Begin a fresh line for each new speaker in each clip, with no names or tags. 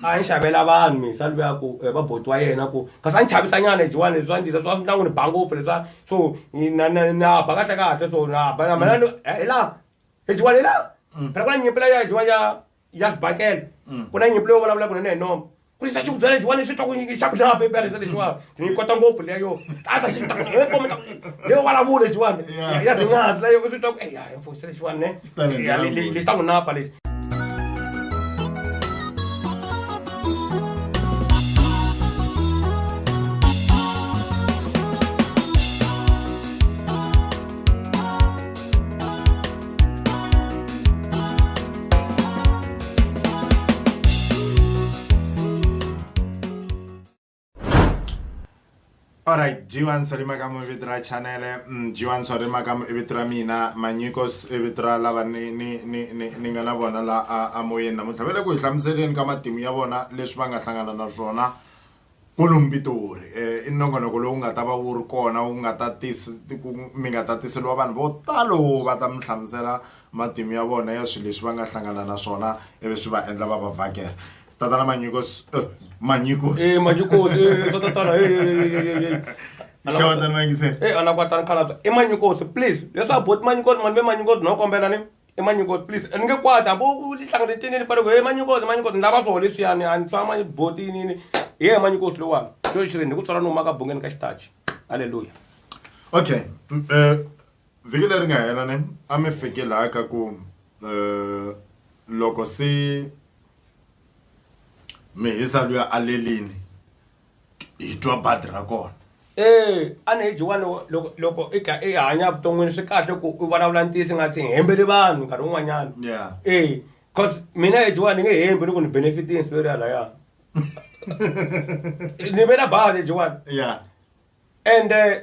a ni xavela vanhu misa ni vuya ku eh, va boti wa yena ku kasi a ni chavisanyana hi jiwani leswi a ni disa swa swi ndla n'wi ni ba ngopfu leswa so ni- na- na- na ba kahle kahle so na ba na mina ni- eh, hi laha hi jiwani hi laha phela ku na nyimpi leya hi jiwani ya ya xibakela mm. ku na nyimpi leyi vulavulaka nene hi noma ku xisa xikudya lexiwani xi twa ku nyingi xa ku lava pepe lexi lexiwani ni yi kota ngopfu leya yo a ta xi ta ku he fome ta ku leyo vulavula lexiwani ya ringazi leyo swi twa ku eya he fose lexiwani ne lexi ta ku napa lexi
alright jiwan sori makamu i vito ra chanele mm, jiwan sori makamu i vito ra mina manyikos i vito ra lava ni ni ni ni ni nga na vona la a a moyeni namuntlha va le ku hi hlamuseleni ka matimu ya vona leswi va nga hlangana na swona Kwalomu Pitori i nongonoko lowu nga ta va wu ri kona wu nga ta tisa ku mi nga ta tiseriwa vanhu vo talo va ta mi hlamusela matimu ya vona ya swilo leswi va nga hlangana na swona ivi swi va endla va va vhakela tatana manyiko manyiko manyiko swa
tatana
xewetani vayingisela e anakwa tani khalabya
i manyikosi please leswaku boti manyikosi mani ve manyikosi no kombela ni i manyikoti please ni nge kwata bo ku hlanganetini ni fane ku he manyikoti manyikoti ni lava swona leswiyani a ni twa manyibotinini hi ye manyikosi lowani xo xirini hi ku tswala ni humaka bungeni ka xitachi halleluya okay
um vhiki leri nga hela ne a mi fike laha ka ku um loko se mi hisa luya alelini hi twa badi ra kona e a ni
hi jiwani loko loko i kha i hanya vuton'wini swi kahle ku u vulavula ntiyiso nga tsi hembeli vanhu nkarhi wun'wanyana yeah e cause mina hi jiwani ni nge hembi ni ku ni benefitini siveri ya laya ni vela badi hi jiwani yeah ende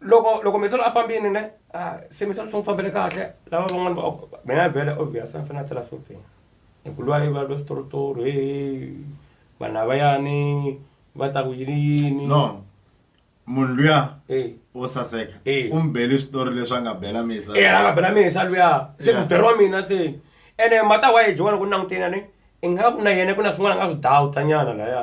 loko loko misolo a fambini ne a se misolo swi n'wi fambele kahle lava van'wani va mina ya bele obvious a ni fanele a tela sofeni hi ku lwa yi va lwa switorotoro he vanhu lavayani va ta ku yini yini no
munhu luya Eh. wo saseka Eh. u mi bele switori leswi a nga bela misa e a nga bela misa luya
se Yeah. mudere wa mina se ene mata wa ye jowani ku languteni a ni i nga ku na yena ku na swin'wana a nga swi dawuta nyana laya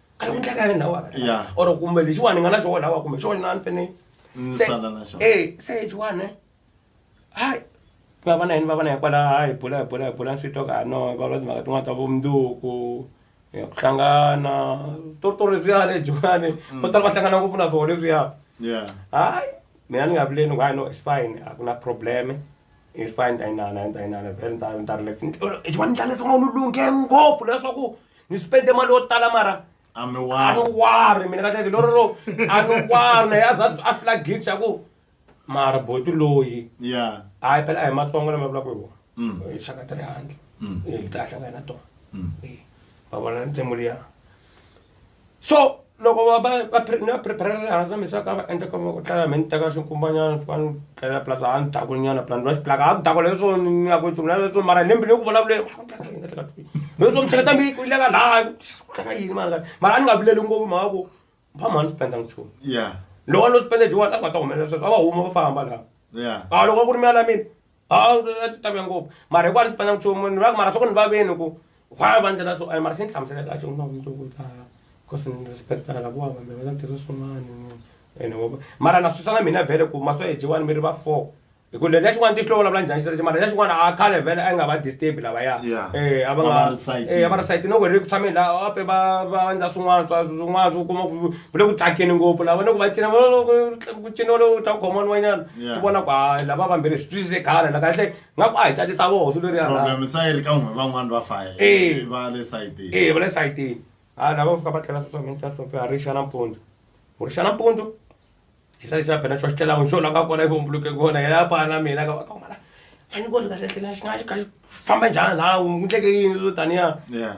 a ni mundlaka yena wa Yeah. or kumbe lexiwani ni nga na xona wa kumbe xona ni fene Ni Se- sala na xona. eh se lexiwani hayi va va na yini va va na hikwala hayi bula hi bula hi bula swi twa ka no va va timhaka tin'wana ta vumundzuku eh, ku hlangana to to leswiya lexiwani vo tala va hlangana ngopfu na swona leswiya Yeah. hayi mina ni nga vileni ku hayi no it's fine a ku na problem it's fine ndayinana ndayinana vele ni ta ni ta relax exiwani ni ta leswaku ni lunghe ngopfu leswaku ni spende mali yo tala mara a mi wari mina kahleke lorolo a ni wari naye a za a fila gate xa ku mara boti loyi ya hayi phela a hi matsongo lama vulaka hi wona Mm. hi xaka ta le handle Mm. hi ta hlangana na tona Mm. Eh, va vona ntsengo liya so loko va va va ni va prepare-a le hansi va mi swa ka va endla ka va ku tlala mi ni teka swinkumbanyana swi va ni tlela plus a ni dakulinyana plus ni va xiplaka a ku dakula leswo ni ya ku nchumu na leswo mara ni mbile ku vulavuleni leswo mihleketa mi ku ileka laha tlanga yini mara mara a ni nga vileli ngopfu mhaka ku mphamha ni spenda nchumu loko a no spenda jiwani a swi nga ta humelela sweswo a va huma va famba laha a loko a ku ri mi ya la mina a ti tavya ngopfu mara hiku a ni sipana nchumu ni va mara swa ku ni va veni ku why va ndlela so mara xi ni hlamusela kahle ku na mundzuku u ta cause ni respect-a la ku va vanhu va ta tirha swin'wana ene mara na swisa na mina vhele ku ma swa yejiwani mi ri va four hi ku lexi xin'wana ti xi lo vulavula njhani xi mara lexi xin'wana a khale vhele a yi nga va disturb lavaya e a va nga e a va ri site no ku ri ku tshameni la a fe va va endla swin'wana swa swin'wana swo kuma ku vule ku tsakeni ngopfu lava ni ku va cina ku cina u ta khoma wun'wanyana Yeah. ti vona ku hayi lava vambirhi swi twisise gana la kahle nga ku a hi tatisa voho swilo leriya ra- problem sa yi ri ka n'we
van'wani va faye Eh. va le sayitini ee va le sayitini
ha lava fika va tlhela sweswamintaswofe a ri xa nampundzu u ri xa nampundzu xi sale xa phela xo xi tlhela n'wi xo la nga kona ivombuluke kona yena a fana na mina ka ka mara a ni koti kahlehlela xi nga xi ka xi famba njhani laha n'wi ndleke yini swo taniya Yeah.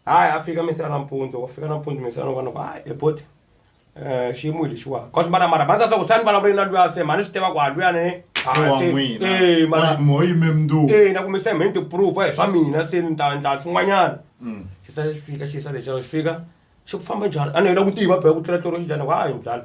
hayi a fika misi ra nampundzu wa fika nampundzu misi ra non'wana ku hayi eboti um xiyimo hi lexiwani cause mara mara bandza swa ku sani vulavule na luya se mhani swi tiva ku a luya ni
ee na kumise mheni
ti-proof hi swa mina se ni ta ndla swin'wanyana mm. xi sa xi fika xi sa lexi xi fika xi ku famba njhani a ni hela ku tiva bee ku tlula tloro xinjhani hayi mbyala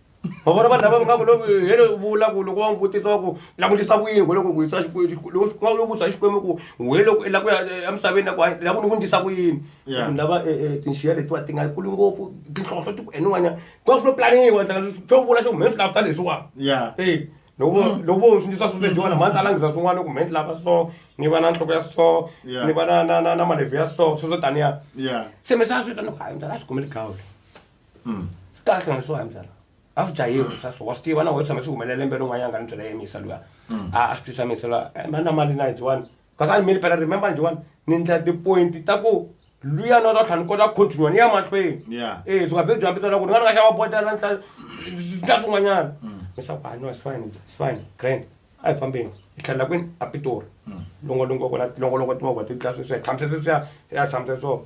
ma vona vanhu lava va nga ku loko hele u vula ku loko wa n'wi vutisa wa ku langutisa ku yini loko ku yisa xikwemuloko vutisa xikwembu ku we loko la ku ya eh, emisaveni ya ku la ku ni ku ndisa ku yini vanhu lava eh, eh, tinxiya letiwa ti nga kuli ngopfu tinhlonhlo ti ku eniwanyana ku va swi lo planiwa xo vula xo ku mhe swi lavisa leswiwani e loko mm. loko vo swi ndisa swi swejiwana mhani ta langisa swin'wana ku mhe ni lava so ni va na nhloko ya so ni va na na na na malevhi ya so swi swo taniya se mi sa swi ta ni ku hayi mdala a swi khomeli gawule kahle nga leswiwa hi mbyana a swi dya yini swa so wa swi tiva na wena tshama swi humelela lembe rin'wanyana nga ni byela yemisa luya a a swi twisa misa luya a mani na mali na hi dyiwani kasi a ni mili phela remember ni dyiwani ni ndlela tipointi ta ku luya na ta tlhela ni kota ku continua ni ya mahlweni Yeah. e swi nga vhe byi hambisa loko ni nga ni nga xava botela ni tlhela ni tlhela swin'wanyana leswaku a no it's fine it's fine grand a hi fambeni hi tlhelela kwini a pitori longolongo kona longolongo timovha ti dlaya sweswiya tshamise sweswiya ya tshamise swo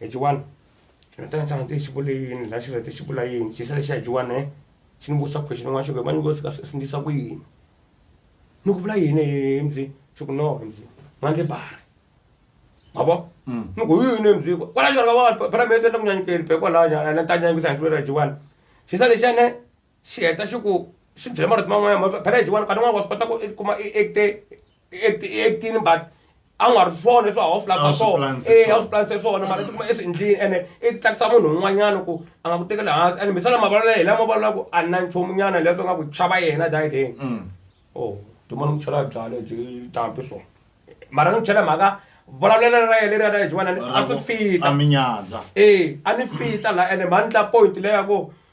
Hi ji one, xi nga ta xi nga xi vule yini la xi hete xi vula yini xi sale xi ya hi ji one ne xi ni vutisa question yin'wana xi ku he ma ni vutisa swi ndlisa ku yini ni ku vula yini he mzi xi ku no mzi ma ndzi bare ma vo ni ku hi yini mzi kwala xi va ka va phela mi yendla ku nyanyukeli be kwalaya ene ni ta nyanyukisa hi xivula hi ji one xi sale xi ya ne xi heta xi ku xi byela marito man'wanyana ma phela hi xiwani nkarhi wun'wani wa swi kota ku i kuma i acte i acte i actini but a wu nga ri swona leswi a wu swi lavisa swona e a wu swi planise swona mara tikuma i swi endlini ene i tsakisa munhu un'wanyana ku a nga ku tekeli hansi ene mbisana mavulavula hi lama vulavula ku a na nchumu nyana leswi nga ku chava yena dayideni o tuma ni ku chela byalwa byi tampi swona mara ni ku chela mhaka vulavulelo ra yena leri a ta hi xiwanani a swi fita
e a ni
fita laha ene mhani tla point leya ku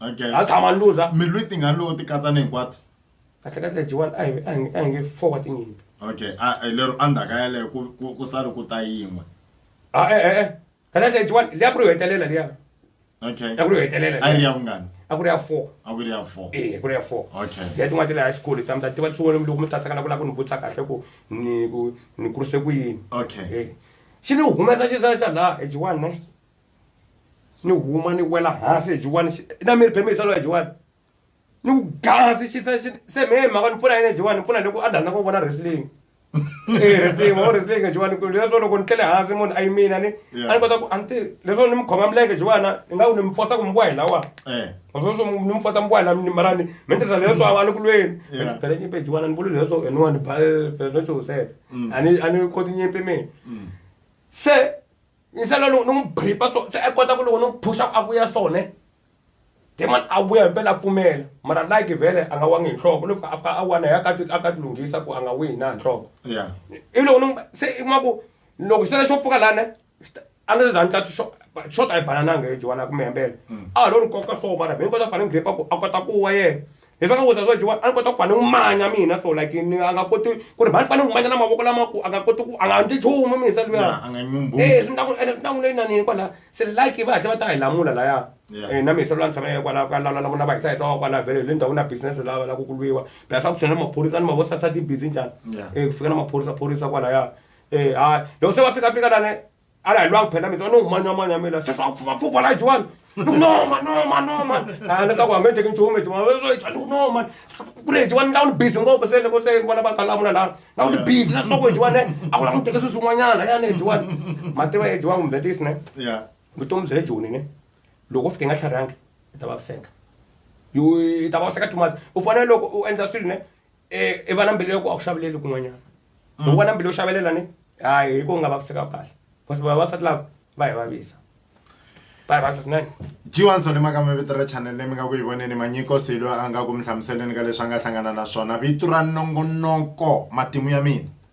okay a tshama luza mi lwiti nga lowu ti
katsa
ni
hinkwato
kahle
kahle
jiwani
a hi-
a hi-
a
hi nge
four wa
tinyimpi
okay a eh, lero endzhaka yaleyo ku ku- ku sale ku ta yin'we a e e e
kahle kahle jiwani liya ku ri yo hetelela liya okay a ku ri
yo hetelela a yi
ri ya vungani a
ku ri ya four a
ku ri ya four
e ku ri ya four
okay ya tin'wana ti le high
school
ta mi ta tiva leswi loko mi tatsekana ku lava ku ni vutisa kahle ku ni ku ni kurise ku yini okay Eh.
xi ni
humesa xisala xa laha ejiwani ne ni huma ni wela hansi hi jiwani na miri bemisa loyi jiwani ni ku gasi xi se se me mhaka ni pfuna yini jiwani ni pfuna loko a ndhandza ku vona wrestling eh wrestling wa wrestling jiwani ku leswo loko ni tlele hansi munhu a yimina ni a ni kota ku a ni tivi leswo ni mi khoma milenge jiwana ni nga ku ni mi fosa ku mi vuwa hi lawa eh. sweswo ni mi fosa mi vuwa hi la mara ni mi ni tirhisa leswo a ni ku lweni phele nyimpi jiwana ni vuli leswo hi niwani leswo sete mm. a ni a ni koti nyimpi mina mm. se yingisela loko ni n'wi bripa so se i kota ku loko ni n'wi phusha ku a vuya so ne demon a vuya himpela a pfumela mara like vhele a nga wangi hi nhloko loko a fika a wana hi akati a ka tilunghisa ku a nga wihi na hi nhloko ya i loko ni n'wi- se i kuma ku loko xitele xo pfuka lana a nga se za ni tati xo xo ta yi banananga hi jiwana ku mi hembela a lo ni koka so mara mi ni kota ku fana ni gripa ku a kota ku wa yena hi fana ku saswa jiwa a ni kota ku fane n'wi manya mina so like ni a nga koti ku ri mhani fane n'wi manya na mavoko lama ku a nga koti ku a nga ndzi chumu misa luya e swi
ntaku ene swi ntaku leyi
nanini kwala se like va hatle va ta hi lamula laya e na misa lula ni tshama ye kwala ka lala lavona va hisahisa wa kwala vhele le ndhawu na business lava la ku ku lwiwa bya sa ku tshena maphorisa ni mavosasati busy njhani e ku fika na maphorisa phorisa kwalaya e ha loko se va fika fika lane ala hi lwa ku phela mitwa no manya manya mila se swa pfuva pfuva la jiwani no man no man no man ah ni ka ku hangete kin chume jiwani we swa jiwani no man ku le jiwani la ni busy ngopfu se loko se vona ba kala muna la la ni busy la swa ku jiwani a ku la ku teke swi swin'wanyana ya ne jiwani mativa ye jiwani kumbe this ne yeah vutomi bya le joni ne loko fike nga tlharihangi i ta vaviseka yo i ta vaviseka too much u fanele loko u endla swilo ne e i va na mbilu ya ku a wu xaveleli kun'wanyana mm. loko va na mbilu yo xavelela ni hayi hi ku nga vaviseka kahle because vavasati lava va hi vavisa va hi vavisa swinene jiwan sole maka
mi vito ra chanel leyi mi nga ku yi voneni manyiko silo a nga ku mi hlamuseleni ka leswi a nga hlangana na swona vito ra nongonoko matimu ya mina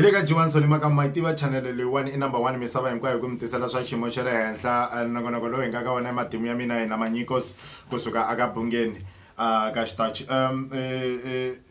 hi le ka jiwanso ni maka ma yi tiva chanele leyiwani i number one misava hinkwayo hi ku mi tisela swa xiyimo xa le henhla eh, nongonoko lowu hi nga ka wona matimu ya mina yena manyikos kusuka aka bungeni ah, ka xitachi um eh, eh,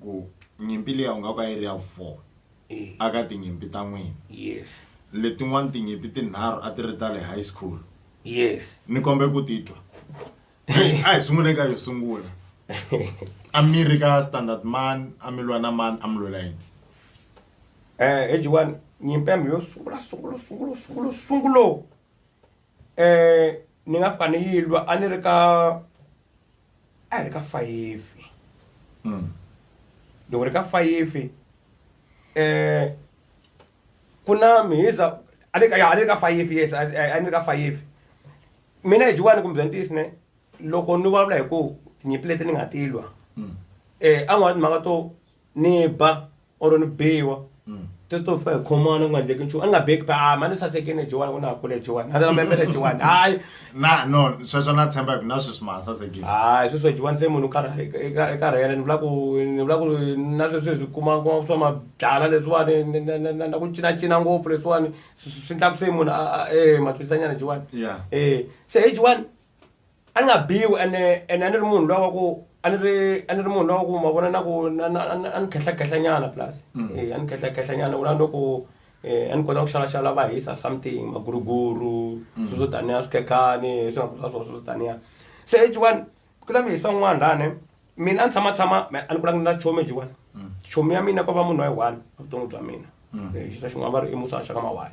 ku nyimpi liya u nga va yi ri ya four eh. a ka tinyimpi ta n'wina yes
letin'wana tinyimpi
tinharhu a ti ri ta le high school yes ni
kombe ku titwa
a hi sungule ka yo sungula a mi ri ka standard man a mi lwa na mani a mi lwela yini um eh, ejiwani
nyimpi ya mi yo sungula sungula sungula sungula sungulo ni nga fika ni yi lwa a ni ri ka a hi ri ka fayifi loko ri ka fayifi ku na mhiza a ni a ni ri ka fayifi yes a ni ri ka fayifi mina hi jiwani kumbe bya ntiyiso ne loko ni vulavula hi ku tinyimpi leti ni nga ti lwa um a ni mhaka to. ni ba or ni biwa ti to fa hi khomana ku nga endleki nchumu a ni nga beki pa ah, mani sasekini jiwani ku na ha kule jiwani a mepele jiwani hayi na no
sweswo na tshemba ku na sweswi ma sasekini hayi sweswo jiwani se
munhu i karhele ni vula ku ni vula ku na sweswi swi kuma kuma swa mabyala leswiwani na ku cinacina ngopfu leswiwani swi endlaku se munhu a e matwisanyana jiwani e se hi jiwani a ni nga biwi ene ene a ni ri munhu lowa ku a ni ri a ni ri munhu lowa ku ma vona na ku na na a ni- a ni khehlakehla nyana plus Eh, a ni khehlakehla nyana vula loko eh, a ni kota ku xalaxala va hisa something maguruguru swi swo taniya swikhekhani swi nga ku swa swo swo taniya se ejiwani ku la mi hisa un'wana lani mina a ni tshama tshama me a ni kulanga ni na chomi ejiwani chomi ya mina ko va munhu wa yi one evuton'wi bya mina Eh, xisa xin'wana va ri i musa xaka mawaya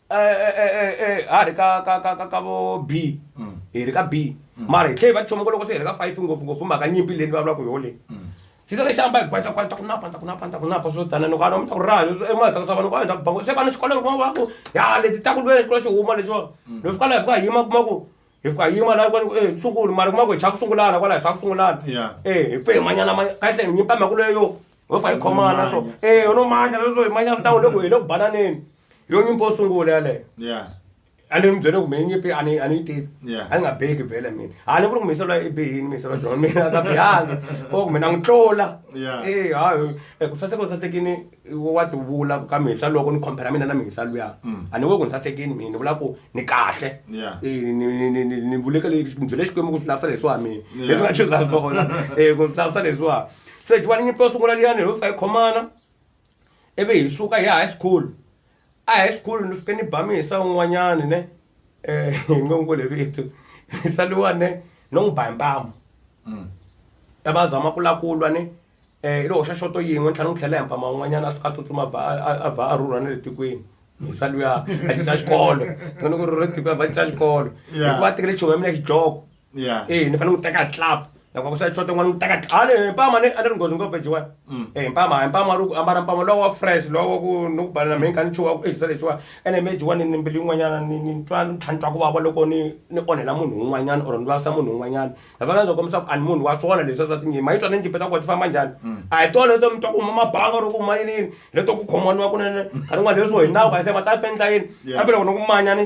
a ri ka ka ka ka ka vo b hi ri ka b mara hi tlhe hi va choma ku loko se hi ri ka five ngopfungopfu mhaka nyimpi leyi ni vulavulaka yoho leyi hi sale xi hamba hi gwaca gwaca ku napa ku napa ku napa swo tana loko a mi ta ku raha emahetlaka swa vanhu ku a hi ta ku bango se vana xikolo loko va ku ya leti ta ku lweni xikolo xi huma lexiwa leswi kwala hi fika hi yima kuma ku hi fika hi yima la ku e sunguli mara kuma ku hi chava ku sungulana kwala hi swa ku sungulana e hi pfe hi manyana manya kahle hi nyimpi mhaka leyo ho fa yi khomana so e u no manya leswo hi manya swi ta ku le ku hi le ku bananeni yo nyimpi yo sungula yaleyo yeah a ni mi byele kumbe nyimpi a ni a ni yi tivi Yeah. a ni nga beki vhele mina a ni ku ri ku miyiselo i bihini miyiselo jona mina a ka bihangi o kumbe na n'wi tlula Yeah. e hayi eku saseka u sasekini wa ti vula ka mihisa loko ni compare mina na mihisa luya a ni vuli ku ni sasekini mina ni vula ku ni kahle Mm. Yeah. Eh, ni- ni- ni- ni- ni vuleke le- ni byele xikwembu ku swi lavisela leswiwa mina Yeah. leswi nga chuza swona um ku swi lavisela leswiwa se jiwani nyimpi yo sungula liyani ho fika hi khomana ivi hi suka hi ya high school a high school ni fike ni ba muyisa un'wanyani ne hi nge n'wi vule vito muyisa luwa ne no n'wi ba hi mpamu ta va zama ku la ku lwa ni um i lo hoxa xoto yin'we ni tlhela ni n'wi tlhela hi mpama un'wanyana a suka a tsutsuma a vha a- a- a vha a rhurha na le tikweni muyisa luya a cinca xikolo ni ku ri ri tiko a vha cinca xikolo Yeah. hikuva a tekele chumu ya mina ya xidloko Yeah. Eh, ni fanele ku teka club loko ku sa chota n'wana n'wi teka a ni mpama ni a ni ri nghozi ngopfu ejiwani Mm. eh mpama mpama ri ku ambala mpama lowo wa fresh lowo ku ni ku balela mhe nga ni chuwa ku ehisa lexiwani ene me ejiwani ni mbilu yin'wanyana ni ni twa ni tlhantlwa ku vava loko ni ni onhela munhu un'wanyana or ni vavisa munhu un'wanyana that's why ndzi kombisa ku a ni munhu wa swona leswi swa tinyima yi twa ni njipeta ku ti famba njhani a hi tona leto mi twa ku huma mabanga ro ku huma yini yini leto ku khomaniwa kunene nkarhi n'wana leswo hi nawu kahle ma ta fendla yini Yeah. kambe loko ni ku manyani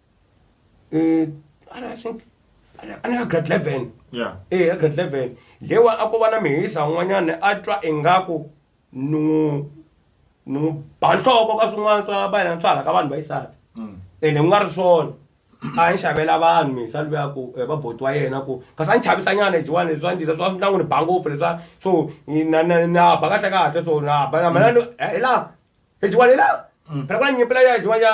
eh ara think ani ka grade 11 yeah eh ka grade 11 lewa a ko va na mihisa un'wanyana a twa ingaku ni n'wi ni n'wi ba nhloko ka swin'wana swa vayena swa hala ka vanhu va yisati mm. ene ku nga ri swona a ni xavela vanhu mihisa luya ku eh, va boti wa yena ku kasi a ni chavisa nyana jiwani leswi a ndisa swa swi na n'wi ni ba ngopfu leswa so na na na ba kahle kahle so na ba na mina hi laha hi jiwani hi laha phela ku na nyimpi leya jiwani ya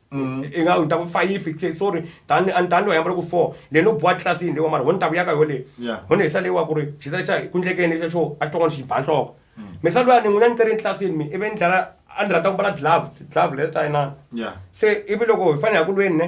mm. i nga ni ta ku five sorry tani a ni tani wa yambala ku four leyi no boha tlilasi yini leyi wa mara ho ni ta ku yaka yo leyi ho ni hisa leyi wa ku ri xi sale xa ku ndlekeni xa xo a xi twan'wana xi ba nhloko mm. mi sa luyani n'wina ni keri etlilasini mi ivi ni dlala a ni rhandza ku mbala glove glove leyi ta yinana se ivi loko hi fanele hi ku lweni ne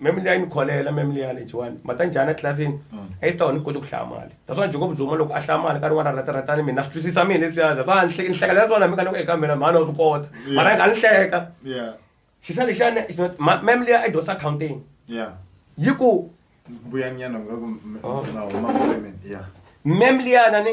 meme liya yi ni kholela meme liya lejiwani mata njhani etlilasini mm. a yi ta wona ni koti ku hlaya mali that's why jacob zuma loko a hlaya mali ka rin'wana ra rhataratani mina swi twisisa mina leswiya that's why ni hlekela ya swona mi ka ni ku eka mina mhani wa swi kota mara yi nga ni hleka xisa lexiyani meme liya i dyonsa accounting yi ku mbuyanyana nga
ku oh. meme
liyana ni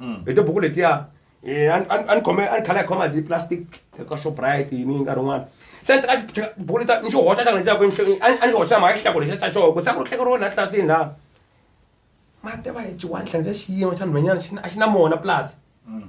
mm. hi tibuku letiya eh, a ni khome a ni khala hi khoma hi plastic eka shoprite yini yi nkarhi wun'wana se ni teka tibuku leta ni xi hoxa xana lexaku a ni xi hoxa mhaka xihlako lexi xa xoho ku sa ku ri hlekeriwa laha tlilasini laha mati va hi jiwani hlangisa xiyimo xa nhwenyana a xi na mona pulasi mm.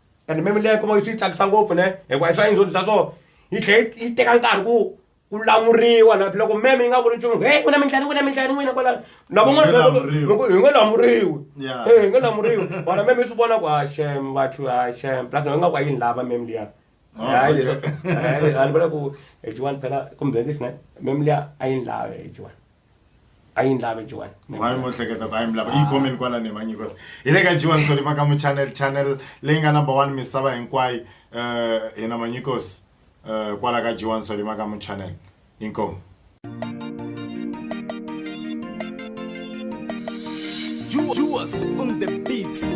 and meme leyi kuma yi swi tsakisa ngopfu ne hikuva i swa indzoni swa swona yi tlhela yi teka nkarhi ku ku lamuriwa na loko meme yi nga vuli nchumu he ku na mintlhani ku na mintlhani n'wina kwala na van'wanahi nga lamuriwi e hi nga lamuriwi vona meme yi swi vona ku ha xem vathu ha xem plus na yi nga ku a yini lava meme liya oh, hayi leswa a ni vula ku ejiwani phela kumbe bengisi na meme liya a yini lava ejiwani a yi ni lave jiwan mani mo hleketa ku a
yi mi lava yi comment kwala ni manyi kosi hi le ka jiwan soli maka mu channel channel leyi nga number one misava hinkwayo um hina manyi kosi um kwala ka jiwan soli maka mu channel inkomu
Juas on the beats.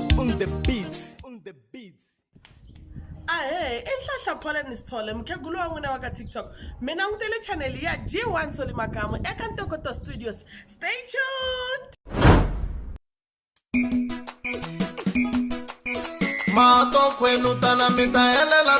On the beats. On the beats. ahe i nhlahla pholani sithole mukhegulu wa n'wina wa ka tiktok mi langutele chaneli ya g1 soli makamu eka ntokoto studios stay tuned
mato kwenu tana mi ta helela